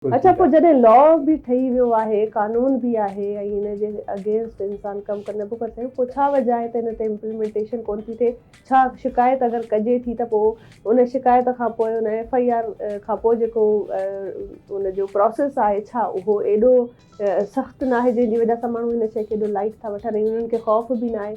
اڇا پوء جڏهن لا به ٺهي ويو آهي، قانون به آهي ۽ ان جي اگينسٽ انسان ڪم ڪري نٿو ڪري سگهي پوء ڇا وجه آهي ته ان تي امپلمينٽيشن ڪونه ٿي ٿئي؟ ڇا شڪايت اگر ڪجي ٿي ته پوء ان شڪايت کان پوء ان ايف آء آر کان پوء جيڪو ان جو پراسيس آهي ڇا اهو ايڏو سخت ناهي جنهن جي وجه سان ماڻهو ان شئي کي ايڏو لائيٽ ٿا وٺن ۽ انهن کي خوف به ناهي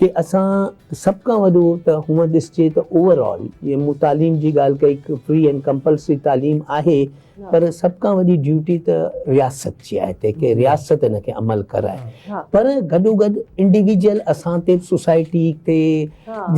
ڪي اسان سڀ کان وڏو ته هونئن ڏسجي ته اوور آل جي مون تعليم جي ڳالهه ڪئي فري اينڊ ڪمپلسري تعليم آهي پر سڀ کان وڏي ڊيوٽي ته رياست جي آهي تنهن کي رياست ان کي عمل ڪرائي پر گڏو گڏ انڊيويجل اسان تي سوسائٽي تي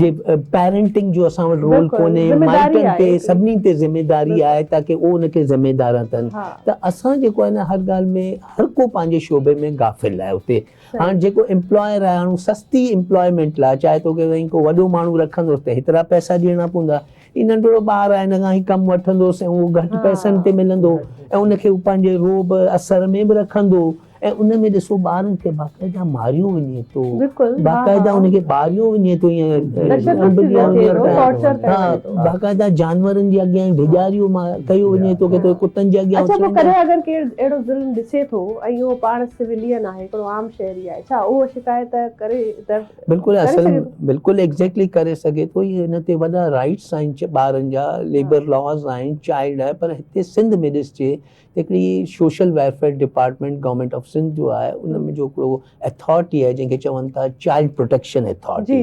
جي پيرنٽنگ جو اسان وٽ رول ڪونهي مائٽن تي سڀني تي ذميداري آهي تاڪي اهو ان کي ذميدار نه ڪن ته اسان جيڪو آهي نه هر ڳالهه ۾ هر ڪو پنهنجي شعبي ۾ غافل آهي اتي هاڻ جيڪو امپلائر آهي هاڻ هو سستي امپلائمينٽ لاء چاهي ٿو ڪي سائين ڪو وڏو ماڻهو رکندوس ته هيترا پئسا ڏيڻا پوندا هي ننڍڙو ٻار آهي هن کان هي ڪم وٺندوس ۽ اهو گهٽ پئسن تي ملندو ۽ ان کي هو پنهنجي رعب اثر ۾ به رکندو ۽ ان ۾ ڏسو ٻارن کي باقاعده ماريو وڃي ٿو باقاعده ان کي ٻاريو وڃي ٿو باقاعده جانورن جي اڳيان ڊيڄاريو ڪيو وڃي ٿو ڪي ڪتن جي اڳيان اڇا پوء ڪڏهن اگر ڪير اهڙو ظلم ڏسي ٿو ۽ اهو پاڻ سولين آهي هڪڙو عام شهري آهي ڇا اهو شڪايت ڪري درج بلڪل ڪري اصل سگهي ٿو؟ بلڪل ايگزيڪٽلي ڪري سگهي ٿو هي هن تي وڏا رائٽس آهن چ ٻارن جا ليبر لاز آهن چائلڊ آهي پر هتي سنڌ ۾ ڏسجي هڪڙي social welfare department government of Sindh جو آهي ان ۾ جو هڪڙو اٿارٽي آهي جنهن کي چون ٿا child protection authority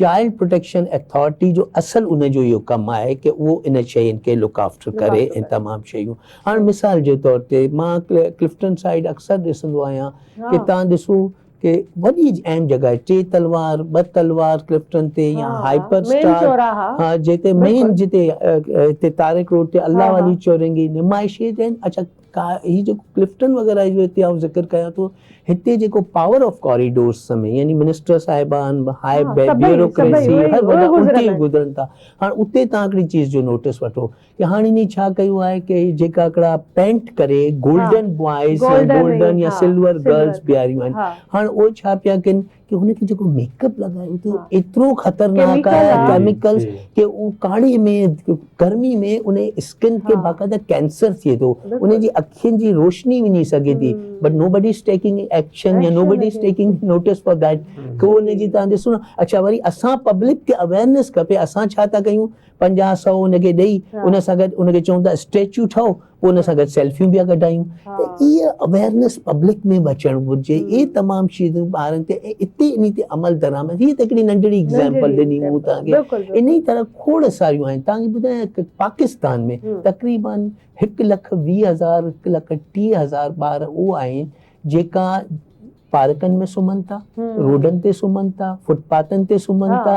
child protection authority جو اصل ان جو اهو ڪم آهي ڪي اهو ان شين کي لڪ آفٽر ڪري ۽ تمام شيون هاڻ مثال جي طور تي مان ڪلفٽن سائيڊ اڪثر ڏسندو آهيان ڪي تان ڏسو ڪي وڏي اهم جڳهه آهي ٽي تلوار ٻه تلوار ڪلفٽن تي يا هائپر اسٽار ها جتي مين جتي تاريخ روڊ تي الله علي چورنگي نمائشي تي اچا ڪا هي جيڪو ڪلفٽن وغيره جو هتي آئون ذڪر ڪيان ٿو هتي جيڪو پاور آف ڪاريڊورس سمي يعني منسٽر صاحبان هاء بيوروڪريسي هر وڏا الٽي گذرن ٿا هاڻ اتي تان هڪڙي چيز جو نوٽس وٺو ڪي هاڻ انهي ڇا ڪيو آهي ڪي هي جيڪا هڪڙا پينٽ ڪري گولڊن بوائز گولڊن يا سلور گرلس بيهاريون آهن هاڻ اهي ڇا پيا ڪن ڪي هن کي جيڪو ميڪ اپ لڳايو ٿو ايترو خطرناڪ آهي ڪيميڪل ڪي هو ڪاڙي ۾ گرمي ۾ ان اسڪن کي باقاعده ڪينسر ٿئي ٿو ان جي اکين جي روشني وڃي سگهي ٿي but nobody is taking action يا nobody is taking notice for that ڪو ان جي تان ڏسو نه اڇا وري اسان پبلڪ کي اويرنس کپي اسان ڇا ٿا ڪيون پنجاهه سؤ ان کي ڏئي ان سان گڏ ان کي چون ٿا اسٽيچو ٺهو پوء ان سان گڏ سيلفيون به ڪڍايون ته اهي اويرنس پبلڪ ۾ به اچڻ گهرجي اهي تمام شيون ٻارن تي ۽ اتي انهي تي عمل درآمد هي ته هڪڙي ننڍڙي ايگزامپل ڏني مون توهان کي انهي طرح کوڙ ساريون آهن توهان کي ٻڌايان ته پاڪستان ۾ تقريبا هڪ لک ويهه هزار هڪ لک ٽيهه هزار ٻار اهو آهن جيڪا پارڪن ۾ سمهن ٿا روڊن تي سمهن ٿا فٽ پاٿن تي سمهن ٿا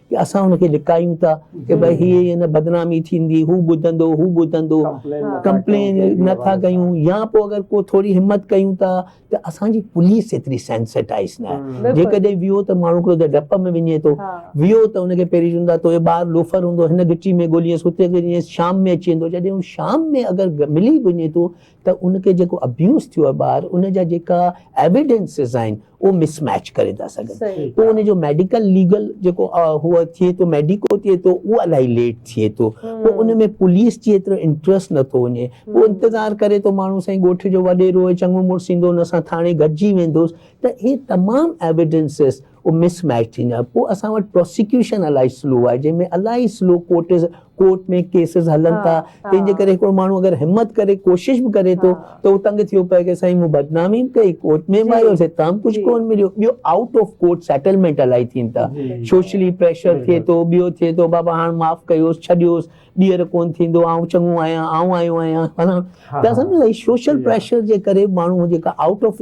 ڪي اسان هن کي لڪايون ٿا ڪي ڀاء هي هن بدنامي ٿيندي هو ٻڌندو هو ٻڌندو ڪمپلين نه ٿا ڪيون يا پوء اگر ڪو ٿوري همت ڪيون ٿا ته اسان جي پوليس ايتري سينسيٽائز نه آهي جيڪڏهن ويو ته ماڻهو هڪڙو ته ڊپ ۾ وڃي ٿو ويو ته ان کي پهرين چون ٿا توهي ٻار لوفر هوندو هن گهٽي ۾ ڳولينس هتي ڳولينس شام ۾ اچي ويندو جڏهن هو شام ۾ اگر ملي به وڃي ٿو ته ان کي جيڪو ابيوز ٿيو آهي ٻار ان جا جيڪا ايويڊينسز آهن اهو مس ميچ ڪري ٿا سگهن پوء ان جو ميڊيڪل ليگل جيڪو هو ٿئي ٿو ميڊيڪو ٿئي ٿو اهو الاهي ليٽ ٿئي ٿو پوء ان ۾ پوليس جي ايترو انٽرسٽ نٿو وڃي پوء انتظار ڪري ٿو ماڻهو سائين ڳوٺ جو وڏيرو چڱو مڙس ايندو ان سان ٿاڻي گڏجي ويندوس ته هي تمام ايويڊينسز اهو مس ميچ ٿيندو آهي پوء اسان وٽ پراسيڪيوشن الائي سلو آهي جنهن ۾ الائي سلو ڪورٽز ڪورٽ ۾ ڪيسز هلن ٿا تنهن جي ڪري هڪڙو ماڻهو اگر همت ڪري ڪوشش به ڪري ٿو ته هو تنگ ٿيو پئي ڪي سائين مون بدنامي به ڪئي ڪورٽ ۾ به آيس هتان به ڪجهه ڪون مليو ٻيو آئوٽ آف ڪورٽ سيٽلمينٽ الائي ٿين ٿا سوشلي پريشر ٿئي ٿو ٻيو ٿئي ٿو بابا هاڻ معاف ڪيوس ڇڏيوس ٻيهر ڪون ٿيندو آئون چڱو آهيان آئون آيو آهيان فلاڻو ته اسان سوشل پريشر جي ڪري ماڻهو جيڪا آئوٽ آف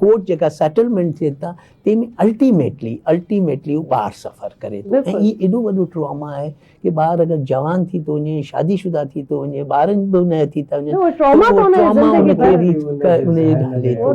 ڪورٽ جيڪا سيٽلمينٽ ٿين ٿا تنهن ۾ الٽيميٽلي الٽيميٽلي هو ٻار سفر ڪري ٿو ۽ هي ايڏو وڏو ٽراما آهي ڪي ٻار اگر جوان ٿي ٿو وڃي شادي شده ٿي ٿو وڃي ٻارن به نه ٿي ٿا وڃن ٽراما ته ان جي زندگي ڀر هلي ٿو